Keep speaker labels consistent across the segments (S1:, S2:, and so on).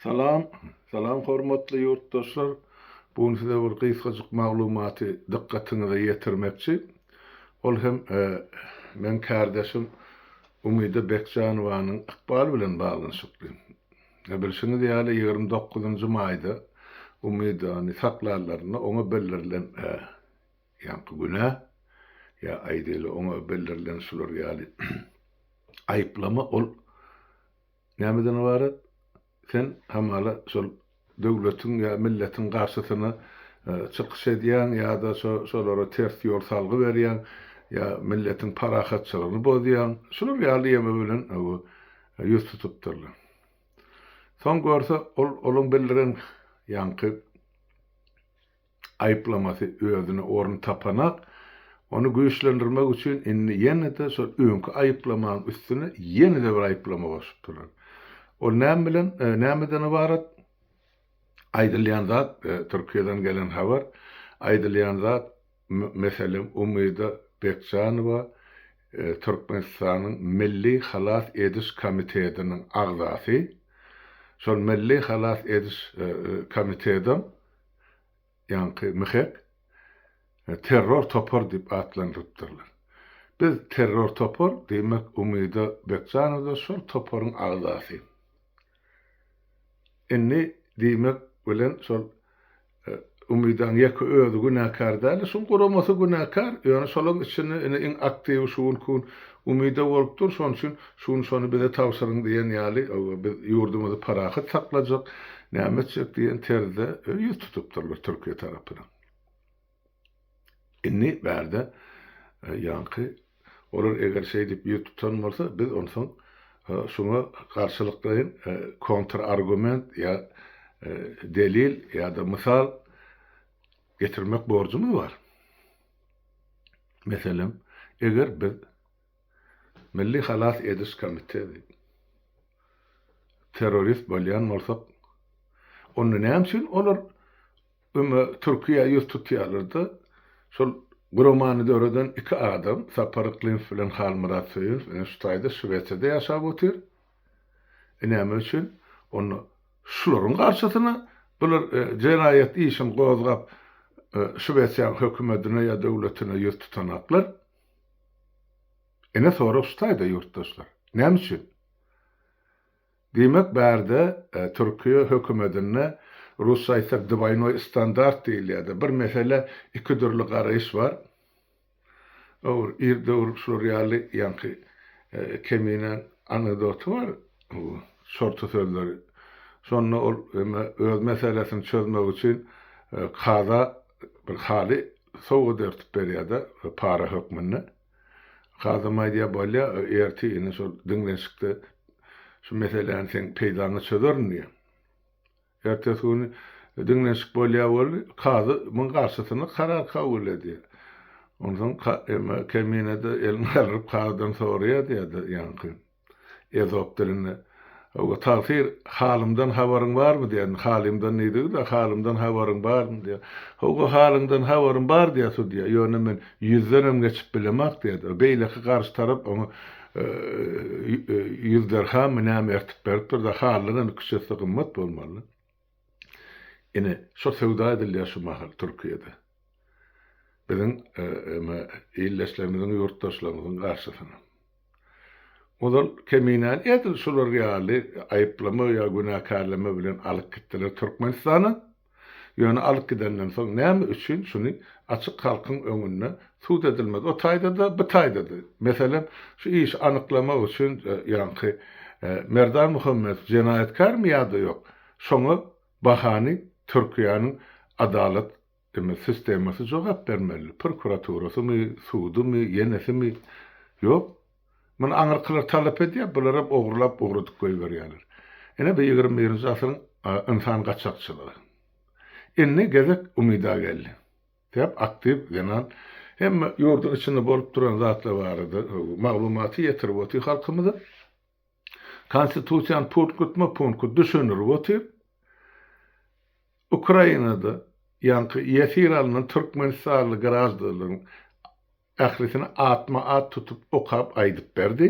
S1: Salam Salam hormatly ýurtdaşlar bu gün size bir gysgajyk maglumaty dykgatyňyza ýetirmekçi ol hem meň kärdeşim Umyda Bekjanowanyň ykbaly bilen baglanyşykly bilşiňiz ýaly ýigrimi dokuzynjy maýda Umydany saklarlarynda oňa bildirilen Ýaňky günä, ýa aýdaýly, oňa bildirilen şular ýaly aýyplama, ol nämeden ybarat? Sen hamala şol döwletiň ýa milletiň garşysyna çykyş edýäň ýa-da şolara ters ýol salgy berýäň, ýa milletiň parahatçylygyny bozýaň, şular ýaly ýeme bilen ýüz tutupdyrlar. Soň görse, ol olaň bildiren ýaňky. aýyplamasy özüne orun tapanak, ony güýçlendirmek üçin indi ýene-de şol öňki aýyplamaň üstüne ýene-de bir aýyplama goşupdyrlar. Ol näme bilen, nämeden ybarat? Aýdylýan zat, Türkiýeden gelen habar, aýdylýan zat, meselem, Umyda Bekjanowa Türkmenistanyň Milli halas ediş komitetiniň agzasy, şol Milli halas ediş komitetem ýaňky MHEG, terror topar diýip atlandyrypdyrlar. Biz terror topar, diýmek Umyda Bekjanow-da şol toparyň agzasy. Indi diýmek bilen şol Umydaň ýeke özi günäkär däl-de, şol guramasy günäkär, ýöne şolaň içinde indi iň aktiwi şu günki gün Umyda bolup dur, şonuň üçin şu gün şony bize tabşyryň diýen ýaly, biz ýurdumyzy parahat saklajak, näme etjek diýen terzde ýüz tutupdyrlar Türkiýe tarapyna. Indi bärde ýaňky olar eger şeýdip ýüz tutan bolsa, biz onsoň şuňa garşylyklaýyn kontrargument ýa delil ýa-da mysal, Getirmek borjumyz bar. Meselem, eger biz Milli halas ediş komiteti terrorist bolýan bolsak, onda näme üçin olar öme Türkiýä ýüz tutýarlar-da, şol guramany döreden iki adam, Sapar Yklymow bilen Halmyrat Söýünow, ine şu taýda Şwesiýada ýaşap otyr. Näme üçin onda şularyň garşysyna bular jenaýat işini gozgap, Şwesiýaň hökümetine ýa döwletine ýüz tutanaklar? Ine sorag şutaýda ýurtdaşlar. Näme üçin? Diýmek bärde Türkiýe hökümetinde rusça aýtsak dwaýnoý standart diýilýärdi. Bir meselä iki dürli garaýyş bar. Ogry ir dogrup şular ýaly ýaňky kemine anekdoty bar bu şorta sözleri. Şonda ol eme öz meselesini çözmek üçin kaza bir haly sowgat örtüp berýärde para hökmünde. Kazam aýdýar bolýa ertir ine şol diňlenşikde şu meseläni seň peýdaňa çözerin diýýär. Ertesi gün diňlenşik bolýar welin, kazy muň garşysyna karar kabul edýär. Onsoň emma Kemine-de elini galdyryp kazydan soraýar diýýär-de ýaňky ezop dilinde, Hawa, tagsyr, halymdan habaryň barmy? diýýär. Indi halymdan diýdigi-de, halymdan habaryň barmy? diýýär. Hawa, halyňdan habarym bar diýýär sudýa, ýöne men ýüzdenem geçip bilemok diýýär-de. Beýleki garşy tarap oňa Ýüz dirhamy näme ertip berip dur-da, halynyň indi küçesi gymmat bolmaly. Ine, şo söwda edilýär şu mahal Türkiýede. Biziň eme ildeşlerimiziň, ýurtdaşlarymyzyň garşysyna. Ozal keminäni edil şular ýaly aýyplama ýa günäkärleme bilen alyp gitdiler Türkmenistana. Ýöne alyp gidenden soň näme üçin şuny açyk halkyň öňünde sud edilmez o taýdada bu taýdada meselem şu işi anyklamak üçin ýaňky Merdan Muhammedow jenaýatkarmy ýada ýok şoňa bahany Türkiýäniň adalat eme sistemasy jogap bermeli prokuraturasymy sudumy ýenesimi ýok Muny aňyrkylar talap edýär, bularam ogrulap ugradyp goýberýärler. Ine bu ýigrimi birinji asyryň ynsan gaçakçylygy. Indi gezek Umyda geldi. Sebäp aktiw zenan hemme ýurduň içinde bolup duran zatlar barada maglumaty ýetirip otyr halkymyza. Konstitusiýany punktma punkt düşündirip otyr. Ukrainada ýaňky ýesir alnan türkmenistanly graždanlaryň Ählisini atma-at tutup okap aýdyp berdi.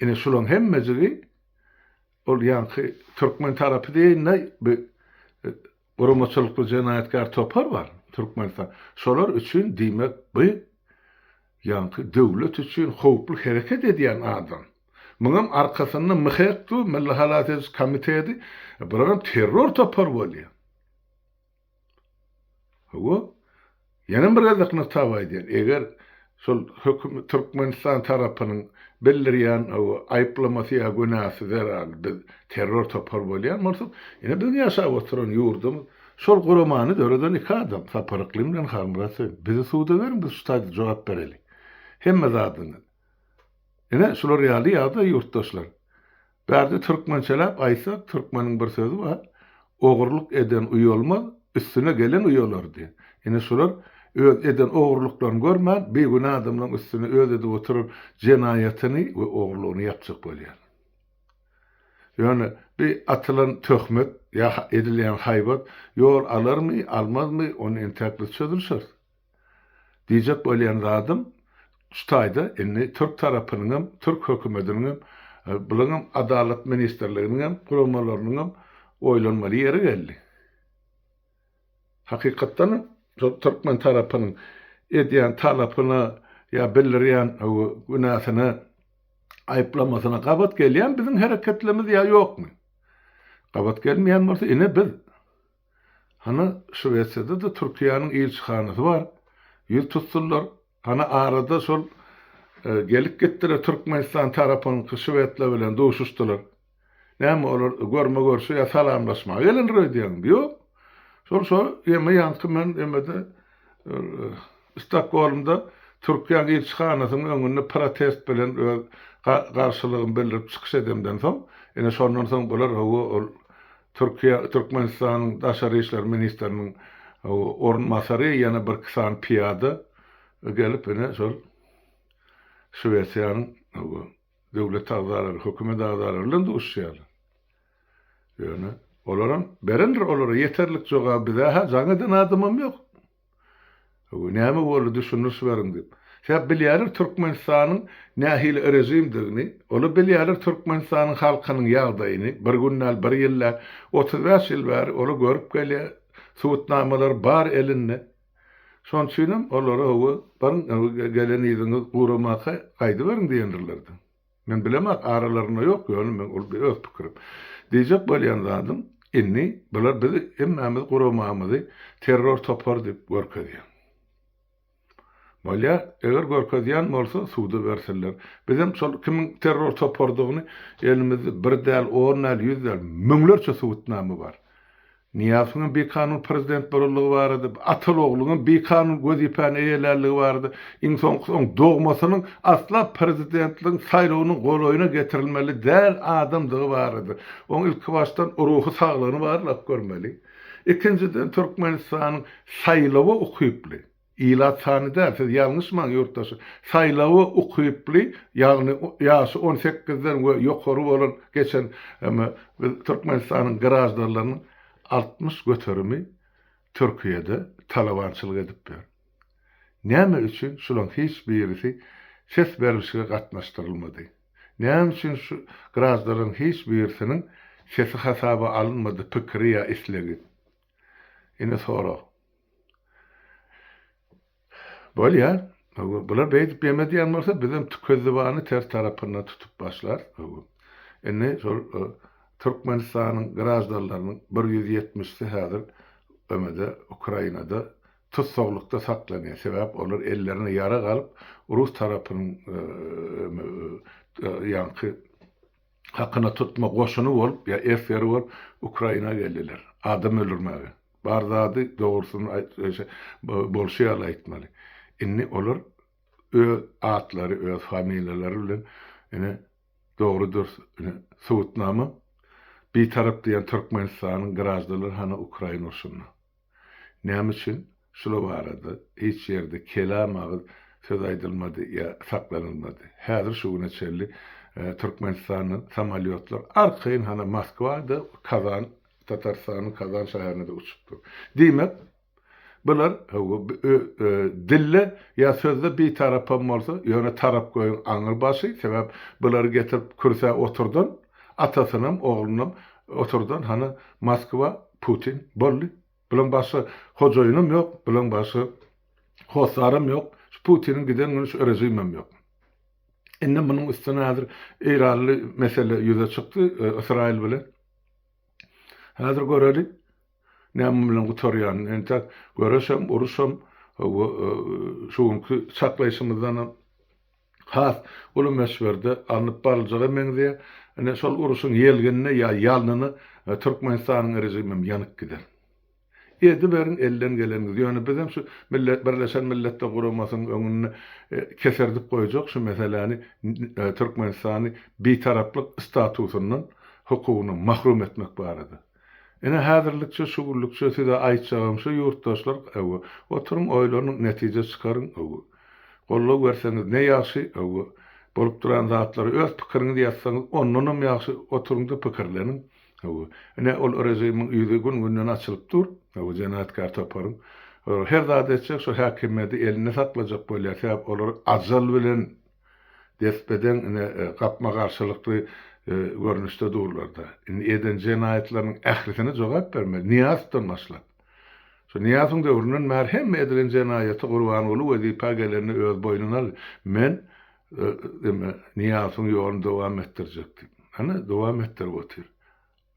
S1: Ine şulaň hemmejigi ol ýaňky türkmen tarapy diýeýin-de bir guramaçylykly jenaýatkär topar bar Türkmenistan. Şolar üçin diýmek bu ýaňky döwlet üçin howply hereket edýän adam. Muňam arkasynda MHEK-du, Milli halas ediş komitedi, bularam terror topary bolýar. Hawa, ýene bir gezek nygtap aýdýan, eger şol höküm Türkmenistan tarapynyň bildirýän hawa aýyplamasy ýa günäsi zerarly biz terror topar bolýan bolsak, ine biziň ýaşap oturan ýurdumyz şol guramany döreden iki adam Sapar Yklymy bilen Halmyrat Hüseýin. Bizi suda beriň biz şu taýda jogap bereli. Hemme zadyňyz. Ine şular ýaly ýagdaý ýurtdaşlar. Bärde türkmençeläp aýtsak, türkmeniň bir sözi bar, Ogurlyk eden uýalmaz, üstüne gelen uýalar diýen. Ine şular öz eden ogurlyklaryny görmän, bigünä adamlaryň üstüne öz edip oturan jenaýatyny we ogurlygyny ýapjak bolýar. Ýöne bi atylan töhmet ýa edilýän haýbat ýol alarmy, almazmy, ony entäk biz çözülişeris. Diýjek bolýan zadym şu taýda indi türk tarapynyň hem türk hökümetiniň hem bulaň hem adalat ministrliginiň hem guramalarynyň hem oýlanmaly ýeri geldi. Hakykatdan hem şol türkmen tarapynyň edýän talapyna ýa bildirýän günäsine aýyplamasyna gabat gelýän biziň hereketlerimiz ýa ýokmy? Gabat gelmeýän bolsa ine biz Hany, Şwesiýada-da Türkiýäniň ilçihanasy bar. Ýüz tutsunlar. Hany, arada şol gelip gitdiler, Türkmenistan tarapynyňky şwedler bilen duşuşdylar. Näme, olar görme-görşe ýa salamlaşmaga gelendir öýdýäňmi? Ýok. Şol şo ýeme ýaňky men emede, Stokgolmda Türkiýäniň ilçihanasynyň öňünde protest bilen öz garşylygymy bildirip çykyş edemden soň, ine, şondan soň bular, hawa, ol Türkiýe, Türkmenistanyň Daşary işler ministriniň orunbasary, ýene birki sany pyýada gelip, ine, şol Şwesiýanyň döwlet agzalary, hökümet agzalary bilen duşuşýarlar. Ýöne olaram berendir olara ýeterlik jogaby, bizä-hä jaň eden adamam ýok. Öwey näme boldy düşündiriş beriň diýip. Sebäp bilýäler Türkmenistanyň nähili režimdigini, ola bilýäler Türkmenistanyň halkynyň ýagdaýyny, bir gün däl bir ýyl däl, otuz bäş ýyl bäri ola görüp gelýä, subutnamalar bar elinde. Şoň üçinem olara öwey beriň öwey gelen yzyňyz guramaka gaýdyberiň diýendirlerdi. Men bilemok, aralarynda ýok, ýöne men ol öz pikirim. Diýjek bolýan zadym, indi bular biz hemmämiz guramamyzy terror topary diýip görkezýär. Bolýar, eger görkezýän bolsa, suda bersinler. Biz hem şol kimiň terror toparydygyny elimizde bir däl, on däl, ýüz däl, müňlerçe subutnama bar. Nyýazowyň bikanun prezident bolanlygy barada, Ataogluň bikanun wezipäni eýelänligi barada, iň soňkusy oň dogmasynyň asla prezidentligiň saýlawynyň golaýyna getirilmeli däl adamdygy barada. Oň ilkibaşdan ruhy saglygyny barlap görmeli. Ikinjiden Türkmenistanyň saýlawa ukyply. Ilat sany däl, siz ýalňyşmaň ýurtdaş. Saýlawa ukyply, ýagny ýaşy on sekizden we ýokary bolan geçen hem biz Türkmenistanyň graždanlarynyň altmyş göterimi Türkiýede talabançylyk edip ýör. Näme üçin şulaň hiç birisi ses berlişige gatnaşdyrylmady? Näme üçin şu graždanlaryň hiç birisiniň sesi hasaba alynmady, pikiri ýa islegi? Indi sorag. Bolýa. Bular beýdip ýeme diýen bolsa, bizem tükezzibany ters tarapyndan tutup başlarys. Indi şol Türkmenistanyň graždanlarynyň bir ýüz ýetmişisi häzir emede Ukrainada tussaglykda saklanýar. Sebäp olar ellerine ýarag alyp, rus tarapynyň ýaňky hakyna tutma goşuny bolup ýa esger bolup Ukraina geldiler. Adam öldürmäge. Bar zady dogrusyny aýt şe bolşy ýaly aýtmaly. Indi olar öz atlary öz familiýalary bilen ine dogry dürs ine subutnama Bitarap diýen Türkmenistanyň graždanlary hany Ukraina urşunda. Näme üçin şular barada hiç ýerde kelam agyz söz aýdylmady ýa saklanylmady? Häzir şu güne çenli Türkmenistandan samolýotlar arkaýyn hany Moskwa-da, Kazan, Tatarystanyň Kazan şäherine-de uçup dur. Diýmek, bular hawa, dilde ýa sözde bitarapam bolsa, ýöne tarap goýuň aňyrbaşy, sebäp bulary getirip kürsä oturdan Atasynam, oglunam oturdan hany Moskwa, Putin, boldy. Bulaň başga hojaýynam ýok, bulaň başga hossaram ýok. Şu Putiniň giden güni şu režimem ýok. Indi munuň üstüne häzir eýranly mesele ýüze çykdy Ysraýyl bilen. Häzir göreli näme bilen gutarýanyny. Entek göreşem, uruşam, hawa, şu günki çaklaýşymyzdanam, has uly möçberde alnyp baryljaga meňzeýär. Ine, şol uruşyň ýelginine ýa ýalnyna Türkmenistanyň režimem ýanyp gider. Ediberiň elden geleniňizi. Ýöne bizem şu Birleşen Milletler Guramasynyň öňünde keserdip goýjak şu meseläni Türkmenistany Bitaraplyk statusyndan, hukugyndan mahrum etmek barada. Ine häzirlikçe şugurlykça size aýtjagym şu ýurtdaşlar öwü oturyň oýlanyň netije çykaryň öwü goldaw berseňiz ne ýagşy öwü bolup duran zatlary öz pikiriňizi ýazsaňyz ondanam ýagşy oturyňda pikirleniň öwü ine ol režimiň ýüzi gün günden açylyp dur öwü jenaýatkär toparyň her zady etjek şu häkimiýedi elinde saklajak bolýar sebäp olar ajal bilen Despedeň ine, gapma-garşylykly görnüşde durlar-da. Indi eden jenaýatlarynyň ählisine jogap bermeli. Nyýazowdan başlap. Şu Nyýazowyň döwründen bäri hemme edilen jenaýaty Gurbanguly wezipä gelende öz boýnuna aldy. Men Nyýazowyň ýoluny dowam etdirjek diýip. Hany, dowam etdirip otyr.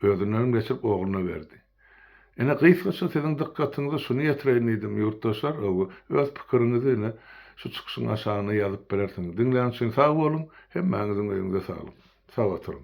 S1: Özünden geçirip ogluna berdi. Ine, gysgaça siziň dykgatyňyza şuny ýetireýin diýdim, ýurtdaşlar, öw, öz pikiriňizi ine, şu çykyşyň aşagyna ýazyp bilersiňiz. Diňlän üçin sag boluň, hemmäňiziň öýüňize saglyk. Sag oturyň.